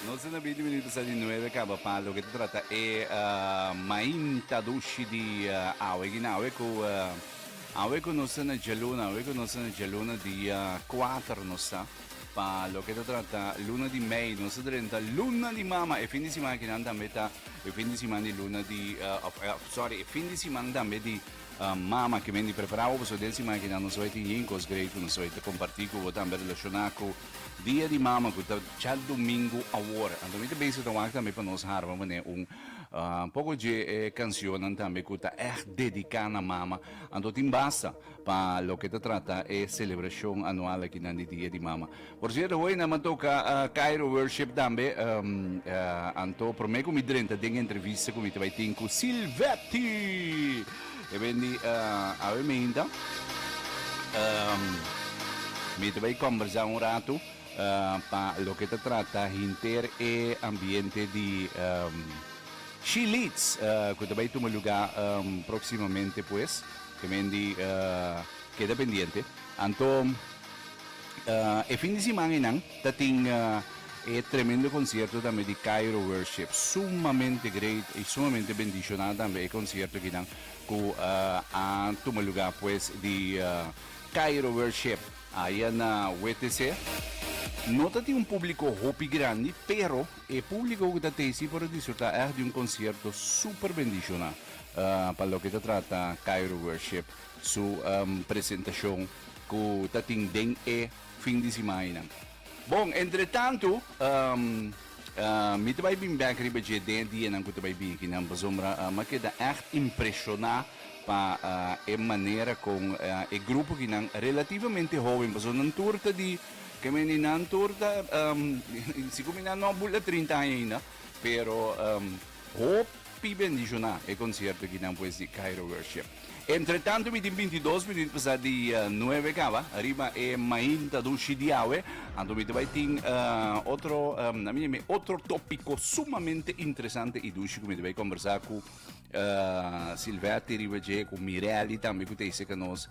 Nos a na bini minuto sa di nuebe kaba pa loke ta trata e mainta dushi di awe gina awe ku awe ku nos a na djaluna awe ku nos a na djaluna dia 4 nos ta pa loke ta trata luna di mei nos a drenta luna di mama e fin di siman akinan tambe ta e fin di siman di luna di of sorry e fin di siman tambe di mama kimen di prepara bo paso den siman akinan nos a tin yin kos grei ku nos a ta komparti ku bo tambe relashona ku Dia di Mama cu ta djadomingo awor. Anto mi ta bezig ta wak tambe pa nos harba mane un poco dje e cancionnan tambe cu ta echt dedica na mama. Anto tin basta pa loke ta trata e celebracion anual akinan di Dia di Mama. Por cierto, hoy nan a toca Cairo Worship tambe. Anto prome cu mi drenta den e entrevista cu mi ta bay tin cu Silvetti. E ben di, Awe mi hinta, mi ta bay combersa un rato pa loke ta trata hinter e ambiente di She Leads cu ta bay tuma luga proximamente pues. E ben di, Keda pendiente. Anto e fin di siman enan. Ta tin e tremendo concierto tambe di Cairo Worship. Sumamente great y sumamente bendicioná tambe e concierto akinan cu a tuma lugá pues di Cairo Worship aya na WTC. No ta tin un publico hopi grandi pero e publico cu ta tey si por a disfrutá echt di un concierto super bendicioná pa loke ta trata Cairo Worship su presentacion cu ta tin den e fin di simanainan. Bon, entretantu, mi ta bai bin bèk riba dje den e dianan ku ta bai bini akinan, pasobra mi a keda ègt impreshoná pa e manera kon e grupo akinan relativamente hóben, pasobra nan tur ta di, ke men di, nan tur ta, si ku mi nan no a bula trinta aña ainda, pero Hopi bendishoná e konsierto kinan pues di Cairo Worship. Entretantu mitin bintidos mitin pasá di nuebe kaba riba e mainta dushi di awe. Anto mi ta bai tin eh, otro, em, na mi yam'é otro tópiko sumamente interesante i dushi ku mi ta bai kombersá ku eh, Silvety riba dje, ku Mireli tambe ku ta hiseka nos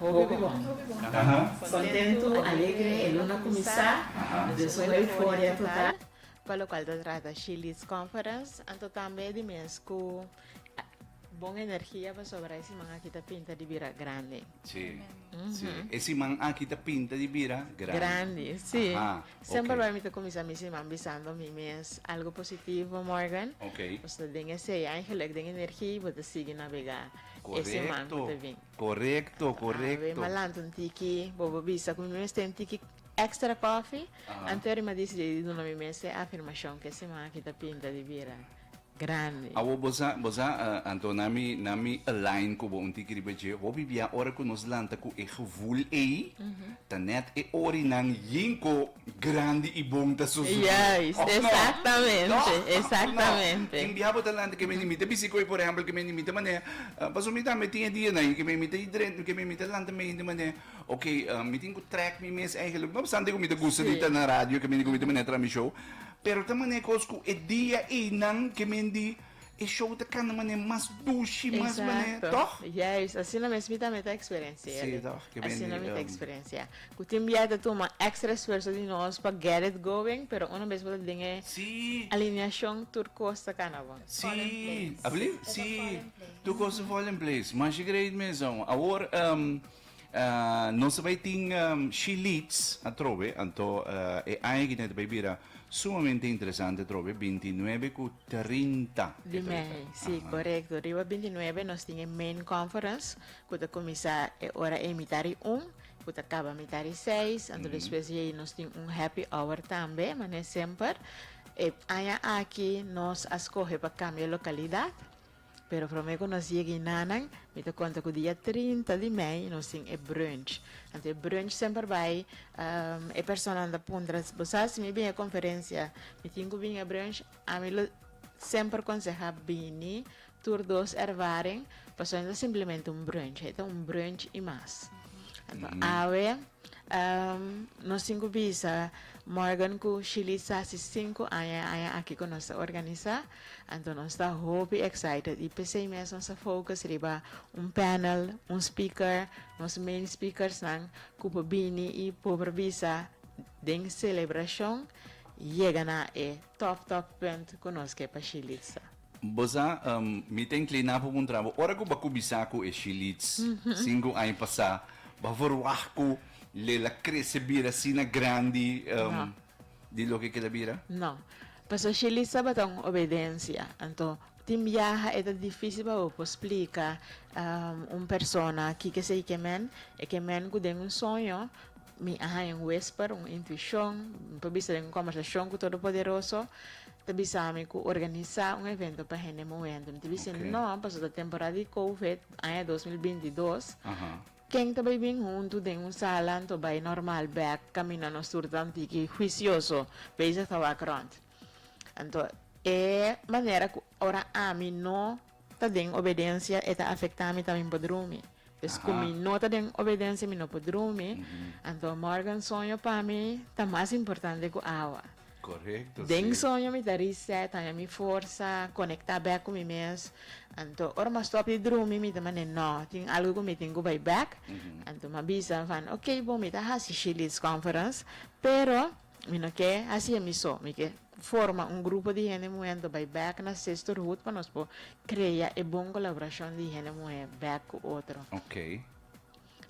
Hopi bon. Kontentu, alegre, e luna kuminsá. Nos den su euforia total. Pa lokual ta trata She Leads Conference, anto tambe di mes ku bon energia pasobra e siman aki ta pinta di bira grandi. Sí, sí. E siman aki ta pinta di bira grandi. Grandi, sí. Semper bai mi ta kuminsá mi siman bisando mi mes algu positivo, Morgan. Nos ta den esei angel, den energia i bo ta sigui nabegá e siman ku ta bin. Korekto korekto. Ave malantu un tiki bobo bisa ku mi mester un tiki extra kòfi antes ora mi a disidi di duna mi mes e afirmashon ke siman aki ta pinta di bira grandi. Awor bo sa bo sa anto na mi na mi align ku bo un tiki riba dje hopi bia ora ku nos lanta ku e gevul ei ta nèt e orinan yinko. Grandi i bon ta su zumo. Juist, exactamente, exactamente. Tin bia bo ta lanta ke mi ta bisi ku e por ehempel ke mi ta manera, paso mi tambe tin e dia nan ke mi ta dren ke mi ta lanta meindi manera ok mi tin ku track mi mes eigenlik no obstante ku mi ta gusta di ta na radio ke mi ta manera traha mi show pero ta manera kos ku e dia ei nan ke mi di E show ta kanda manera mas dushi, mas manera, tòg? Exacto. Juist. Asina mes mi tambe ta experiencia Si, elen. tòg. Ke bini. Asina mi ta experiencia. Ku tin bia ta tuma extra esfuerso di nos pa get it going, pero una bes bo ta den e Si. alineashon, tur kos ta kanda bon. Si. Fall in place. Abli? E ta Si. fall in place. Tur kos ta fall in place. Masha great mes, homber. Awor, ehm. Nos a bai tin she leads atrobe, anto e aña ki ta bai bira sumamente interesante atrobe, binti nuebe ku trinta e ta bira. Sí, korekto. Riba binti nuebe nos tin e main conference ku ta kuminsá e ora ei mitá di un ku ta kaba mitá di seis, anto despues di ei nos tin un happy hour tambe, mane semper. E aña aki nos a skohe pa kambia lokalidat. Pero prome ku nos yega inanan, mi ta konta ku dia trinta di mei nos tin e brunch. Anto e brunch semper bai, e personanan ta puntra, bo sa si mi bin e konferensia, mi tin ku bin e brunch? Ami lo semper konseha bini tur dos ervaring, pasobra no ta simplemente un brunch, e ta un brunch i mas. Anto awe nos tin ku bisa Morgan ku Shilisa si sinku aña e aña aki ku nos ta organisa. Anto nos ta hopi excited y pesey mes nos a focus riba un panel, un speaker, nos main speakersnan cu por bini y por bisa den celebracion yega na e top top punt cu nos ke pa Shilitza. Bo sa, mi ta inclina pa puntra bo, ora cu bo a cuminsa cu e Shilitz sinku aña pasa, bo a verwah cu lel a crece bira asina grandi? No. di loke keda bira? No. Pastor Shirley tabata un obedencia. Anto, tin biaha e ta dificil pa bo por splica un persona kiko esey ke men. E ke men ku den un soño mi a haña un whisper, un intuicion, mi por bisa den un conversacion ku Todopoderoso ta bisami ku organisa un evento pa hende muhendo. Mi ta bisa, no, paso ta temporada di Covid, aña dos mil binti dos. Ken ta bai bin huntu den un sala anto bai normal bek kaminda nos tur ta tiki huicioso bezig ta wak rond. Anto e manera ku ora ami no ta den obedencia e ta afecta mi ta mi por drumi. Pues ku mi no ta den obedencia mi no por drumi anto morgan soño pa mi ta mas importante ku awa. Correcto, Den si. soño mi ta reset, haña mi forsa, conecta bek cu mi mes. Anto ora mi a stop di drumi mi ta mane no, tin algo cu mi tin cu bay bek. Anto mi a bisa van ok bo mi ta haci she leads conference pero mi no ke haci e mi so, mi ke forma un grupo di hende muhe anto bay bek na sisterhood pa nos por crea e bon colaboracion di hende muhe bek cu otro. Ok.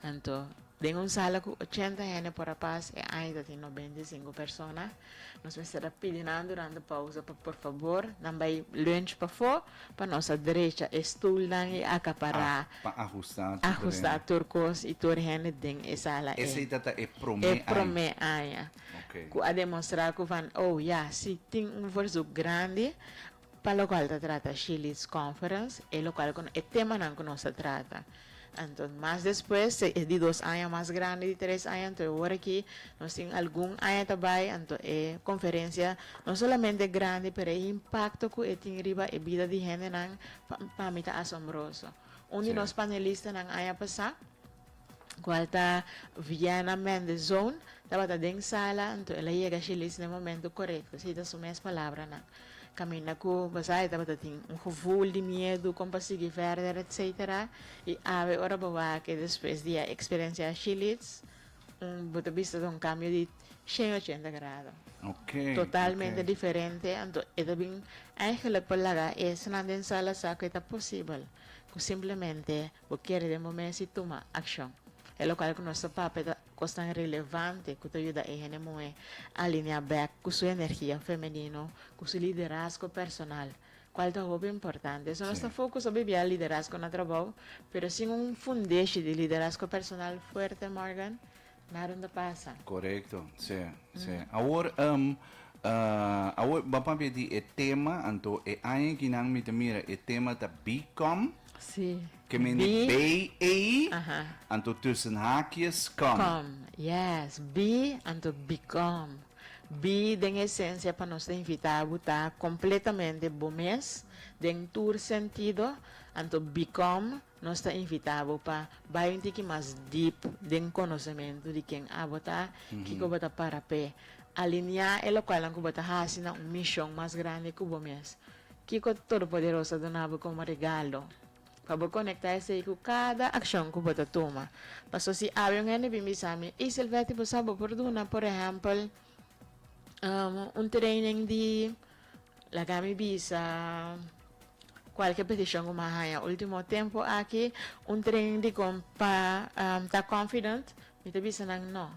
Anto, den un sala cu ochenta hende por a pas, e aña ta tin nos beinti i sinku persona, nos mester a pidi nan durante pausa pa por fabor nan bay lunch pafó pa nos a drecha e stoelnan i acapará, pa ajusta tur hende, ajusta tur cos i tur hende den e sala. Esey ta ta e prome aña. E prome aña cu a demonstra cu van, oh ya, si tin un versuk grandi. Pa lokal ta trata She Leads Conference, e lokal ku e temanan ku nos ta trata. Anto mas despues ta e di dos aña mas grandi di tres aña, anto e ora aki nos tin algun aña ta bai, anto e konferensia no solamente grandi pero e impakto ku e tin riba e bida di hendenan pa mi ta asombroso. Un di nos panelistanan aña pasá, cual ta Viana Mendez Zoon, tabata den sala, anto el a yega Shili's na e momento corecto, si ta su mes palabranan. Caminda cu Bazai tabata tin un gevoel di miedu con pa sigui verder, etc. Y awe ora bo wak y despues di a experiencia Shili's, bo ta bista ta un cambio di cien ochenta grado. Totalmente diferente, anto e ta bin eigenlijk pa laga esnan den sala sa cu e ta posibel cu simplemente Bo kere den bo mes i tuma akshon. E lokal ku nos ta papia ta kosnan relevante ku ta yuda e hende muhé alineá bèk ku su energia femenino, ku su liderazgo personal, kual ta hopi importante. So nos ta fokus obi bia liderazgo na trabou, pero sin un fundeshi di liderazgo personal fuerte, Morgan, Nada no ta pasa. Correcto, se, se. Awor, um, uh, awor ba papia di e tema, anto e aña aki nan mi ta mira e tema ta become, Sí. ke men di Be, BA, aha. anto tussen haakjes come. Come, yes. Be, anto become. Be den esencia pa nos ta invita bo ta completamente bo mes, den tur sentido, anto become Nos ta invitá bo pa bai un tiki mas dip den konosementu di ken abo ta, kiko bo ta para p'e aliniá e lokualnan ku bo ta hasi na un mishon mas grandi ku bo mes. Kiko Todopoderoso ta duna bo komo regalo? Pa bo konektá esei ku kada akshon ku bo ta tuma. Paso si awe un hende bin bisa mi, Ey Silvety, bo sa bo por duna, por ehèmpel, un training di. Laga mi bisa cualkier peticion cu mi a haya ultimo tempo aki, un training dicon pa ta confident, mi ta bisa nan no.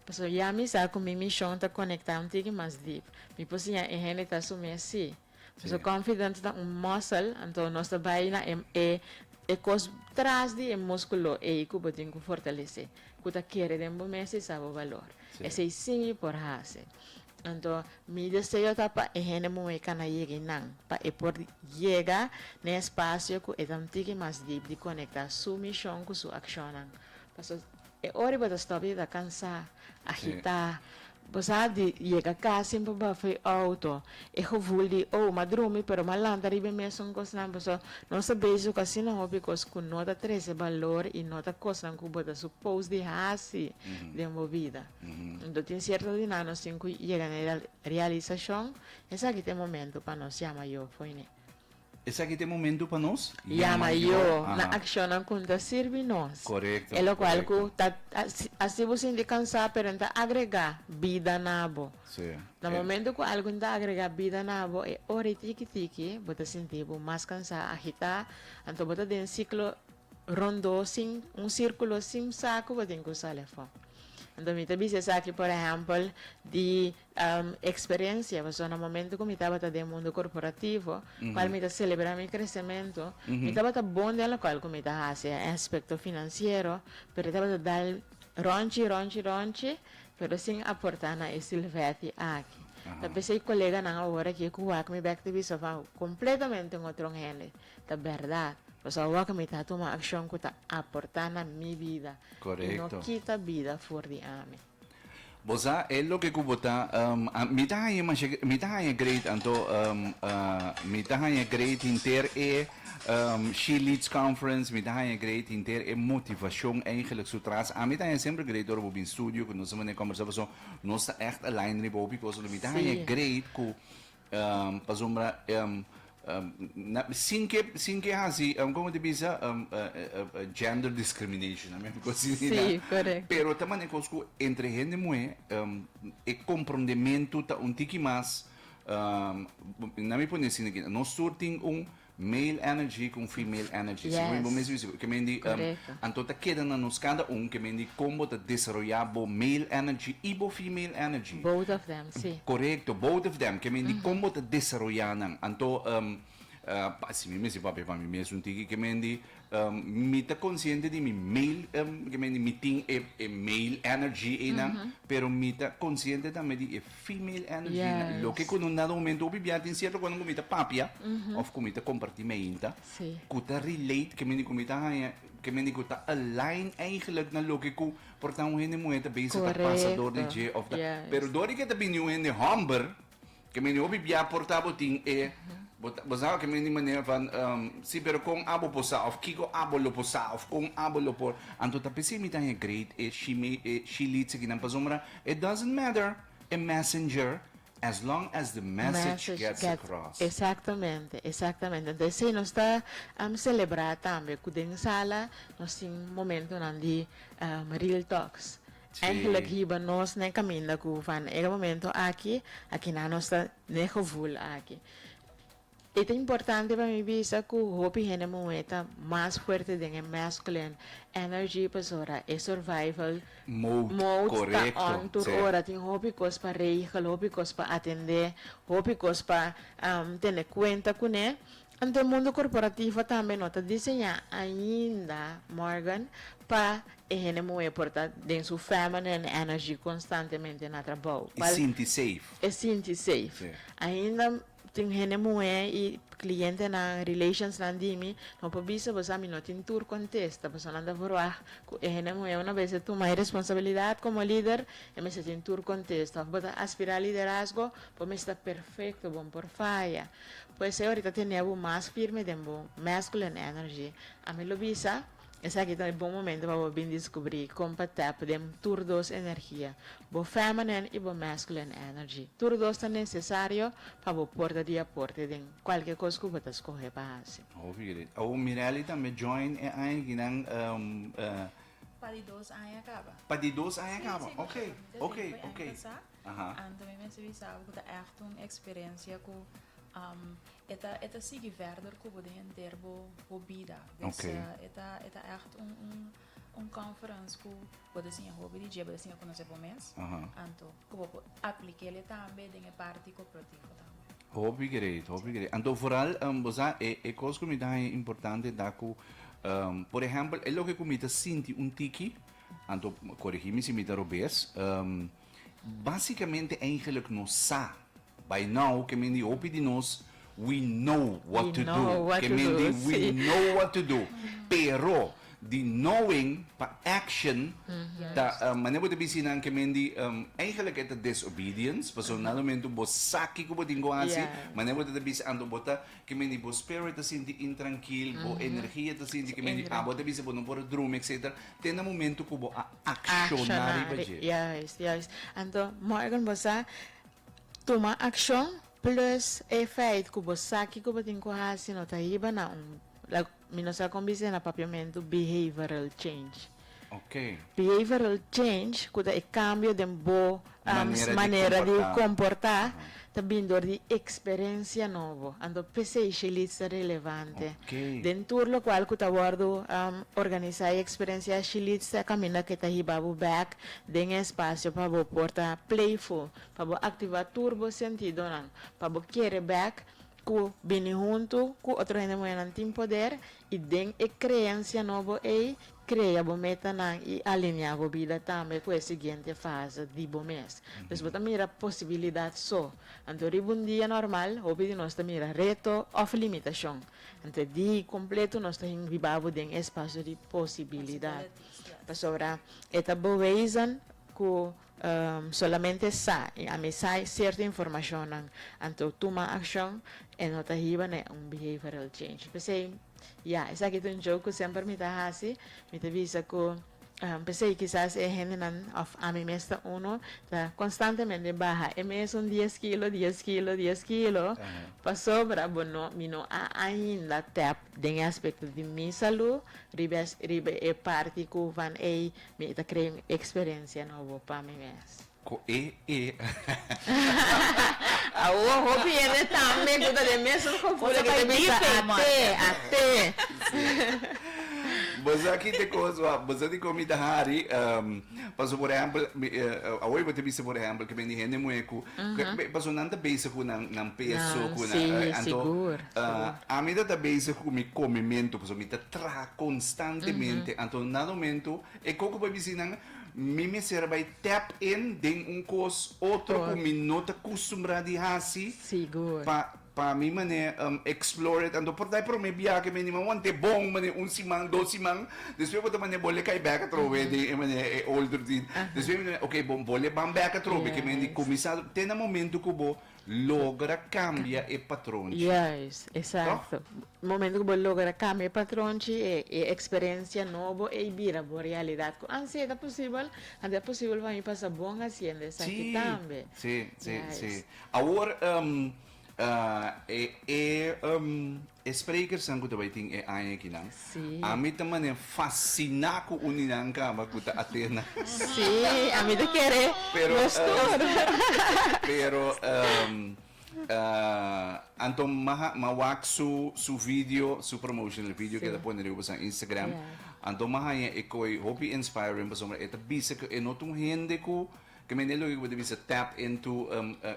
Pasobra ya mi sa cu mi mision ta conecta un tiki mas diep. Mi por siña e hende ta su mes si. Pasobra confident ta un muscle, anto nos ta bay na e e cos tras di e musculo ey cu bo tin cu fortalece, cu ta kere den bo mes y sa bo balor. Esey si mi por haci. Anto, mi deseo ta pa e hende muhé cana yeg'e nan, pa e por yega n'e espacio cu e ta un tiki mas dip di conecta su mision cu su accionnan. Pasobra e ora bo ta stop di ta cansa, agita, bo sa di yega cas sin bo bafo e auto, e gevoel di oh m'a drumi pero m'a lanta riba e mesun cosnan, paso nos ta bezig cu asina hopi cos cu no ta trece balor y no ta cosnan cu bo ta suppose di haci den bo bida. Lo tin cierto di nan nos tin cu yega na e realisacion, Esaki ta e momento pa nos yama Yo foine. Esaki ta e momento pa nos yama Yo na accionnan cu N ta sirbi nos. Corecto, E locual cu ta haci bo sinti cansa pero N ta agrega bida na bo. Na momento cu algun ta agrega bida na bo e ora y tiki tiki bo ta sinti bo mas cansa, agita, anto bo ta den ciclo Rondó sin un sirkulo sin sa ku bo tin ku usá lefon. Anto mi ta bisa esaki por ehèmpel di eksperiensia paso na momentu ku mi tabata den mundu korporativo kual mi ta selebrá mi kresementu mi tabata bon den lokal ku mi ta hasi e aspekto finansiero pero e tabata dal rònchi rònchi rònchi pero sin aportá na e silvèti aki ta p'esei koleganan awor aki e ku wak mi bèk ta bisa kompletamente un otro hende. Ta bèrdat, nos a wòk mi ta tuma akshon ku ta aportá na mi bida i no kita bida for di ami. Bo sa e loke ku bo ta, Mi ta haña masha, mi ta haña great, anto mi ta haña great henter e She Leads Conference, mi ta haña great henter e motivashon eigenlik su tras. Ami ta haña semper great ora bo bin studio, ku nos a manera kòmbersá, pasobra nos ta ègt align riba hopi kosnan. Mi ta haña great ku. Pasobra sin ke sin ke hasi como ta bisa gender discrimination ami a gosi di nan. Si, correcto. Pero ta mane cos cu entre hende muhe e comprondemento ta un tiki mas nan mi pone asin aki nos tur tin un Male energy con female energy segun e bo mes bisa bo ke men di anto ta keda na nos cada un ke men di con bo ta desaroya bo male energy y bo female energy both of them si corecto both of them ke men di con bo ta desaroya nan anto así mi mester papia pa mi mes un tiki ke men di Mi ta konsiente di mi mail, ke men di mi tin e mail energy einan, pero mi ta konsiente tambe di e female energy einan. Loke ku no nada momento, hopi bia tin sierto kosnan ku mi ta papia òf ku mi ta kompartí mi ainta, ku ta relate, ke men di ku mi ta haña, ke men di ku ta align eigentlik na loke ku por ta un hende muhé ta bezig ta pasa dor di dje òf ta. Pero dor di ke ta bini un hende hòmber, Ke meni hopi bia por ta bo tin e bo, bo sa ke meni manera van um, si pero kon abo por sa of kiko abo lo por sa of kon abo lo por anto ta pesi mi tan e great e shimi e shilit se kinan pasombra it doesn't matter a messenger as long as the message, message gets, gets across. Exactamente, exactamente. Entonces sí, nos está um, celebrar también que den sala nos tin momentonan di um, real talks. Eigenlijk hiba nos n'e kaminda ku van e momento aki a kina nos ta n'e gevoel aki. E ta importante pa mi bisa ku hopi hende muhé ta mas fuerte den e masculine energy pasora e survival mode ta on tur ora. Tin hopi kos pa regel, hopi kos pa atendé, hopi kos pa tene kuenta kuné. Anto e mundu korporativo tambe no ta diseñá ainda, Morgan, pa e hende muhé por ta den su feminine energy konstantemente na trabou. E sinti safe. E sinti safe. Ainda tin hende muhé i klientenan, relationsnan di mi, no por bisa boso ami no tin tur kontesta. Personanan ta verwagt ku e hende muhé una bes e tuma e responsabilidat komo lider, e mester tin tur kontesta. Òf bo ta aspirá liderazgo, bo mester perfekto, bo no por faya. Cu esey ahorita tene bo mas firme den bo masculine energy. A mi lo bisa esaki ta e bon momento pa bo bin descubri con pa tap den tur dos energia, bo feminine y bo masculine energy. Tur dos ta necesario pa bo por ta di aporte den cualkier cos cu bo ta scoge pa haci. Hopi great. Awo Mirelli tambe join e aña kinan e. Pa di dos aña caba. Pa di dos aña caba. Ok. Ok. Ok. Anto mi mester bisa bo ku ta ègt un eksperensia ku e ta e ta sigui vèrder ku bo den henter bo bo bida. Dus e ta e ta ègt un un un conference ku bo ta siña hopi di dje, bo ta siña konosé bo mes, anto ku bo por aplik'é el tambe den e parti koperativo tambe. Hopi greit, hopi greit. Anto foral bo sa e e kos ku mi ta haña importante e ta ku por ehèmpel e loke ku mi ta sinti un tiki, anto korigí mi si mi ta robes, Básicamente eigenlijk no sa. By now ke men di hopi di nos we know what to do. Ke men di we know what to do. Pero di knowing pa action ta manera bo ta bisti nan ke men di eigenlijk e ta disobedience pasobra nan lumentu bo sa kiko bo tin ku hasi manera bo ta ta bisti anto bo ta ke men di bo spirit ta sinti intrankil bo energia ta sinti ke men di abo ta bisti bo no por a drumi etcetera te na momentu ku bo a akshoná riba dje. Juist, juist. Anto, Morgan, bo sa tuma akshon plus e feit ku bo sa kiko bo tin ku hasi no ta hiba na un, like, mi no sa kon bis'é na papiamentu behavioral change. Oké. Behavioral change ku ta e kambio den bo Nos manera di komportá ta bini dor di eksperensia nobo, anto p'esei Shilits ta relevante. Den tur lokual ku ta wòrdu organisá e eksperensia Shilits ta kaminda ke ta hiba bo bèk den e espasio pa bo por ta playful, pa bo aktivá tur bo sentidonan, pa bo kere bèk ku bini huntu ku otro hende muhénan tin poder i den e kreensia nobo ei Krea bo metanan i alineá bo bida tambe ku e siguiente fase di bo mes. Pues bo ta mira posibilidat so. Anto riba un dia normal, hopi di nos ta mira reto òf limitashon. Anto e di kompletu nos ta hingribá bo den e spasio di posibilidat. Pasobra e ta boeisnan ku Solamente sa y ami sai cierto informacionnan anto tuma accion e no ta hiba ne un behavioral change. P'esey, ya, esaki ta un joke cu semper mi ta haci, mi ta bisa cu p'esey kisas e hendenan of ami mes ta uno ta constantemente baha e mesun dies kilo, dies kilo, dies kilo, pasobra bo no, mi no a ainda tap den e aspecto di mi salud riba riba e parti cu van ey Mi ta krea un experiencia nobo pa mi mes. Cu e e. Awo hopi hende tambe cu ta den mesun gevoel a keda bisa ate, ate. Bozaki ta cos wak, bo sa di con mi ta hari, paso por ehempel, awo bo ta bisa por ehempel, ke bende hende muhe cu, paso nan ta bezig cu nan peso, cu nan, anto Ami ta ta bezig ku mi komementu, pasobra mi ta traha konstantemente. Anto na un mentu, e koko bai bisí nan, mi mester a bai tap in den un kos otro ku mi no ta kustumbrá di hasi pa pa mi manera explore it. Anto por ta e promé biaha mi anima, wan ta e bon manera un siman, dos siman, despues bo ta manera bo le kai bèk atrobe den e manera e old routine. Despues mi ta mira, okay bon, bo le ban bèk atrobe, ke men di kuminsá. Te na momentu ku bo. logra cambia e patron chi. Juist, exacto. Momento cu bo logra cambia e patron chi, e experiencia nobo ey bira bo realidad cu ansi ey ta posibel, anto ta posibel pa mi pasa bon haciendo esaki tambe. Sí, sí, sí, sí. Awor e E sprekersnan ku ta bai tin e aña akinan, ami ta mane fasiná ku uninan kaba ku ta ateé na. Sí, ami ta kere los tur. Pero anto m'a wak su video, su promotional video ku e ta pone riba pasobra Instagram. Anto m'a haña e koi hopi inspiring pasobra e ta bisa ku e no ta un hende ku. Ke mende loke ku bo ta bisa tap into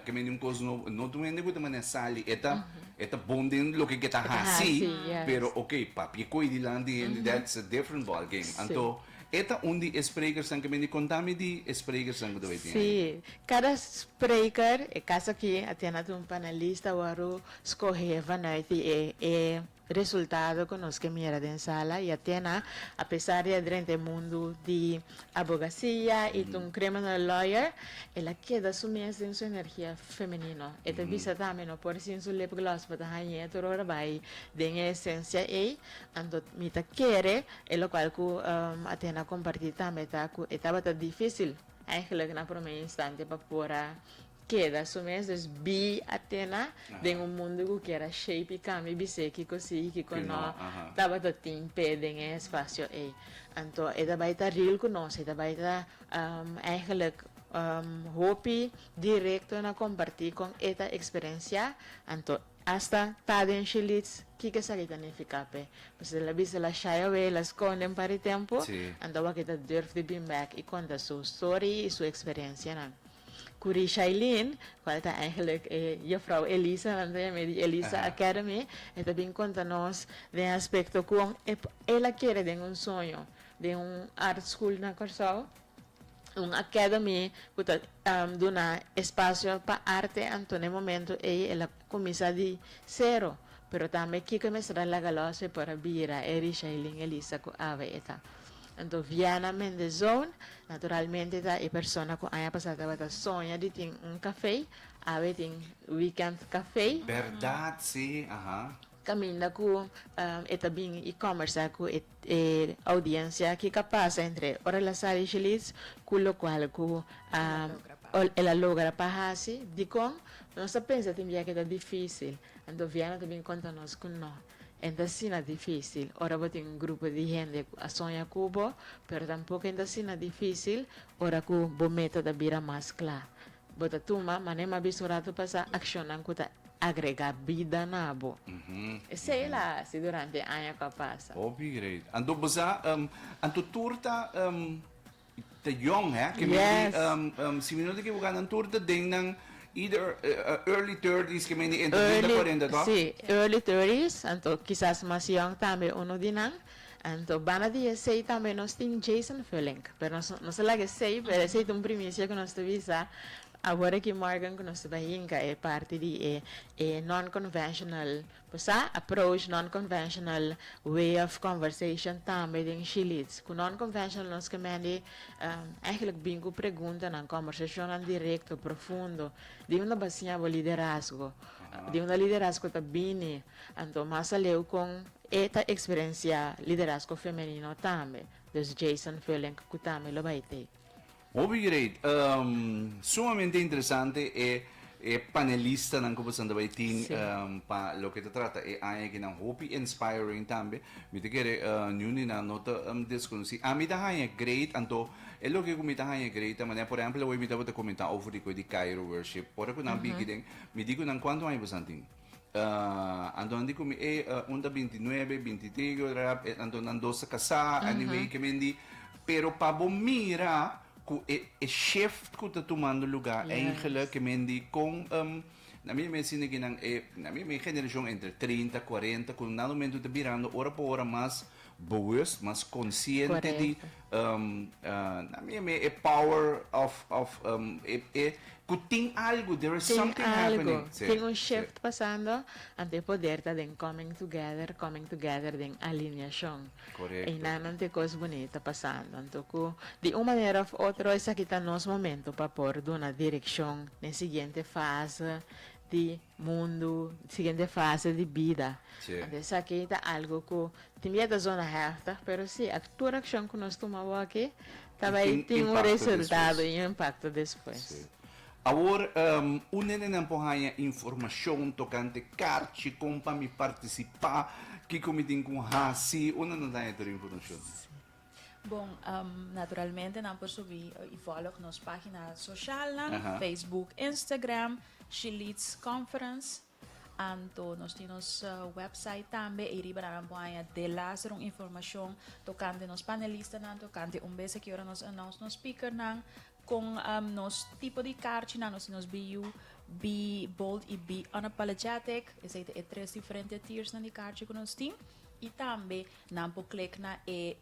ke mende un kos nobo. No tur hende ku ta manera sali e ta e ta bon den loke ke ta hasi, pero okay papia e koi di lanti hende that's a different ball game. Anto e ta un di e sprekersnan ke mende konta mi di e sprekersnan ku ta bay tin ahi. Sí, kada spreker e kas aki a tene atu un panelista wòrdu skohe vanuit di e Resultado cu nos ke mira den sala y Atena, a pesar di a drenta e mundu di abogasia y ta un criminal lawyer, el a keda su mes den su energia femenino. E ta bisa tambe, no por sin su lip gloss pa ta hañ'é tur ora bai den e esencia ei. Anto mi ta kere, e locual cu Atena a comparti tambe ta cu e tabata dificil, eigenlijk na prome instante, pa por a Keda su mes, dus bi a tena den un mundu ku kier a shape i kambia i bis'é kiko si i kiko no tabata tin p'é den e espasio ei. Anto e ta bai ta ril ku nos, e ta bai ta eigenlijk hopi direkto na kompartí kon e ta eksperensiá, anto asta ta den shilits kiko esaki ta nifiká p'e. Pues el a bisa el a shy away, el a skonde un par di tempu, anto awor ke ta durf di bin bèk i konta su story i su eksperensianan. cu ri Shailene, cual ta eigenlijk e Juffrouw Elisa, nan ta yama e di Elisa Academy, e ta bin conta nos den aspecto con e el a kere den un soño den un art school na Corsou, un academy cu ta duna espacio pa arte anto na e momento ey el a Kuminsá di sero, pero tambe kiko e mester a laga lòs pe por a bira e Rishaylin Elisa ku awe e ta. Anto Viana Mendezoon, naturalmente ta e persona ku aña pasá tabata soña di tin un kafé, awe tin Weekend Café. Bèrdat si, aha. Caminda cu e ta bin y combersa cu e audiencia kico a pasa entre Orelazar y Shilitz cu locual cu el a logra pa haci, dicon? Nos ta pensa tin bia cu e ta dificil, anto Viana ta bin conta nos cu no, e ta asina dificil ora bo tin un grupo di hende cu a soña cu bo, pero tampoco e ta asina dificil ora cu bo meta ta bira mas cla. Bo ta tuma mané m'a bisto rato pasá akshonnan ku ta agregá bida na bo. Esei l'A hasi durante e aña ku a pasa. Hopi great. Anto bo sa, anto tur ta ta yòn hè? Ke mindi, si mi no ta ekivoká nan tur ta den nan either early thirties, ke mindi entra den nan kuarenta, tò? Si, early thirties, anto kisas mas yòn tambe unu di nan. Anto banda di esei tambe nos tin Jason Vullink, pero nos nos ta laga esei, pero esei ta un primicia cu nos ta bisa awor aki morgan cu nos ta bai hinca e parti di e e non-conventional, por sa? approach, non-conventional way of conversation tambe den Shileeds. Cu non-conventional nos ke mendi eigenlijk bin cu preguntanan, conversacionnan directo, profundo, di unda ba siña bo liderazgo? Di unda liderazgo ta bini? Anto mas aleu con. E ta eksperensiá liderazgo femenino tambe, dus Jason Vullink ku tambe lo bai t'ei. Hopi great. Sumamente interesante e e panelistanan ku boso ta bai tin pa loke ta trata e aña aki nan. Hopi inspiring tambe. Mi ta kere niun di nan no ta deskonosí. Ami ta haña great anto e loke ku mi ta haña great ta manera por ehèmpel awor mi tabata kumentá over di koe di Cairo worship. Ora ku nan bigi den mi di ku nan kuantu aña boso tin? Antonan di mi, ey, un ta binti nuebe, binti tres, yo ta, antonan dos ta casá, anyway, ke men di. Pero pa bo mira cu e, e shift cu ta tumando lugá, eingele, ke men di con, um, na mi mester nekinan, e, na mi, mi generacion entre trinta, cuarenta, cu nan momento ta birando ora pa ora mas. bewust, mas consciente di e power of of e cu tin algo, there is something happening. Tin algo, tin un shift pasando, ante e poder ta den coming together, coming together den alineacion. Einanan tin e cos bunita pasando. Anto cu di un manera of otro esaki ta nos momento pa por duna direccion n'e siguiente fase di. Mundu, siguiente fase di bida. Anto esaki ta algo ku tin bia ta zona hèftig, pero si, tur akshon ku nos tuma awor aki ta bai tin un resultado i un impakto despues. Awor, un nenenan por haña informashon tokante karchi, kon pa mi partisipá, kiko mi tin ku hasi, unda no ta haña tur informashon? Bon, naturalmente nan por subi i volg nos pagina socialnan, Facebook, Instagram, She Leads Conference. Anto nos tin nos website tambe, ei riba nan por haña delas den un informacion tocante nos panelistanan, tocante un bes aki ora nos announce nos speakernan, con nos tipo di carchinan. Nos tin nos BU, Be Bold i Be Unapologetic. Esei ta e tres diferente tiersnan di carchi cu nos tin. I tambe Nan por click na e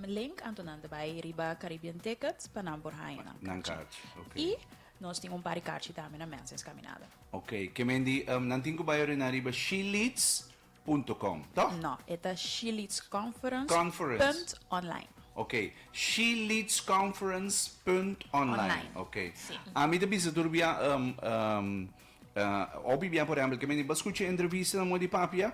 link anto nan ta bay riba Caribbean Tickets pa nan por haya nan Nan carchi. carchi, ok. Y nos tin un par di carchi tambe na Mensens Caminada. Ok, kemen di nan tin cu bay orina riba Sheleats punto com, toh? No, e ta sheleatsconference Conference. punt online. Ok, sheleatsconference punt online. Online, Ok. si. Ami ta bisa tur bia, hopi bia por ehempel, kemen di pa scucha e entrevistanan moe di papia,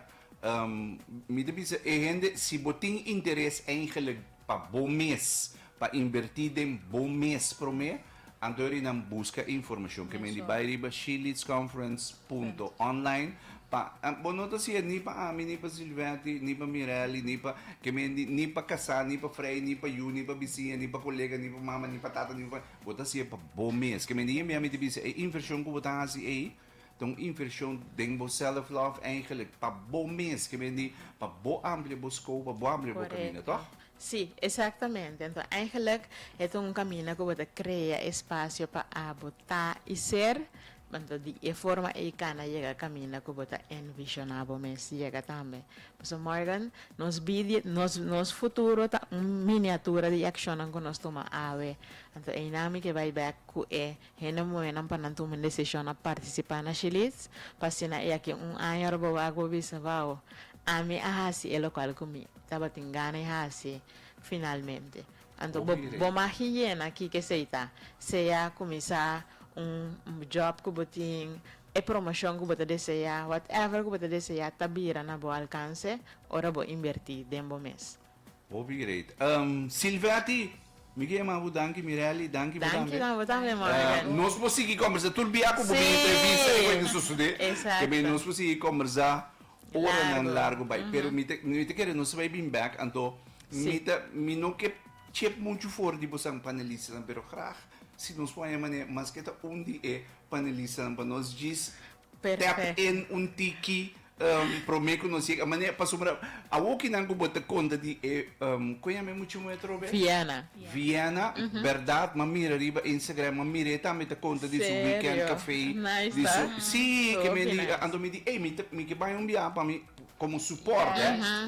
Mi ta bisa e hende, si bo tin interes eigenlijk pa bo mes, pa invertí den bo mes promé, anto eri nan buska e informashon ke men di bai riba sheleadsconference.online pa bo no ta hasié ni pa ami, ni pa Silvetti, ni pa Mirelli, ni pa ke men di ni pa kasá, ni pa frei, ni pa yu, ni pa bisiña, ni pa kolega, ni pa mama, ni pa tata, ni pa bo ta hasié pa bo mes. Ke men di yembiá mi ta bisa e invershon ku bo ta hasi ei, Ta un invershon den bo self love eigenlik pa bo mes ke men di pa bo amplia bo skou pa bo amplia bo kamina tog? Korekto. Si, esaktamente. Enton eigenlik e ta un kamina ku bo ta krea espasio pa abo ta i ser, enton di e forma ei kana yega kamina ku bo ta envishoná bo mes yega tambe. Pasobra Morgan, nos bid, nos nos futuro ta un miniatura di e akshonnan ku nos tuma awe. Enton einan mi ke bai bèk ku e Hende muhénan pa nan tuma un desishon na partisipá na Shilits, pa asina i aki un aña Robowee a por bisa, Wou, ami a hasi e lokual ku mi tabatin gana di hasi finalmente. Anto bo bo mag yena kiko esei ta, sea kuminsá un job ku bo tin, e promoshon ku bo ta deseá, whatever ku bo ta deseá ta bira na bo alkanse ora bo inbertí den bo mes. Hopi great. Ehm, Silvetti, mi ke yama bo danki, Mirelli, danki bo tambe. Danki tambe bo tambe, Morgan. Nos por sigui kombersá tur bia ku bo den entrevista i ku e ta sosodé. Esakto. Nos por sigui kombersá oranan largu bai. Pero mi ta mi ta kere nos ta bai bin bèk, anto mi ta mi no ke chep muchu for di bosan panelistanan pero grag si nos wak haya manera maske ta un di e panelistanan pa nos djis tap in un tiki prome ku nos yega mane pasobra awo kinan ku bo ta konta di e kon yama e muchu moe atrobe Viena Viena berdad m'a mira riba Instagram m'a mira e tambe ta konta di su weekend cafe di su si ke men di anto mi di ey mi ta mi ke baña un biaha pa mi komo support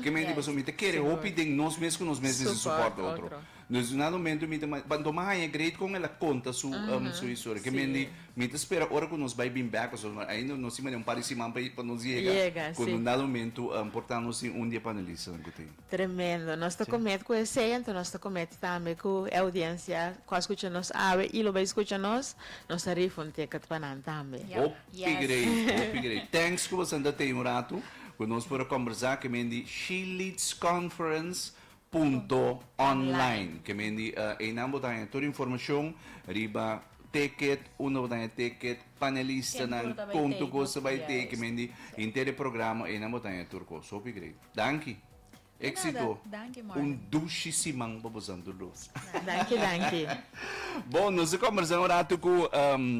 ke men di pasobra mi ta kere hopi den nos mes ku nos mes mester support otro. Nos duna el un mento mi ta ba doma haña great con el a conta su su historia que men di mi ta spera ora cu nos bay bin back pasobra nos ainda nos tin manera un par di siman pa pa nos yega cu nos na un mento por tando nos tin un di e panelistanan cu tin. Tremendo nos ta comet cu esey enton nos ta comet tambe cu e audiencia cu a scucha nos awe y lo bay scucha nos nos ta rifa un ticket pa nan tambe. Hopi great hopi great thanks cu basanta tey un rato cu nos por a combersa que men di She Leads Conference Punto online ke mindi einan bo ta haña tur informashon riba teket unda bo ta haña teket panelistanan kon tur kos bai tei ke mindi inter e programa einan bo ta haña tur kos hopi grei danki exito un dushi siman pa bo santu dos danki danki bon nos ta kombersa un ratu ku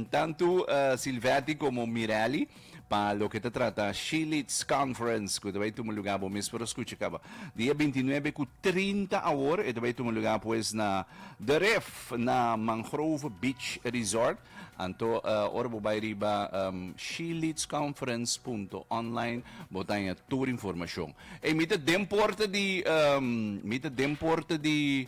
tantu Silvetti komo Mireli. pa loke ta trata She-Leads Conference cu ta bay tuma lugar, bo mes por scucha caba, dia bintinuebe cu trinta awor, e ta bay tuma lugar pues na The Ref, na Mangrove Beach Resort, anto uh, ora bo bay riba um, sheleadsconference.online, bo taña tur informacion. E mi ta den porta di, um, mi ta den porta di,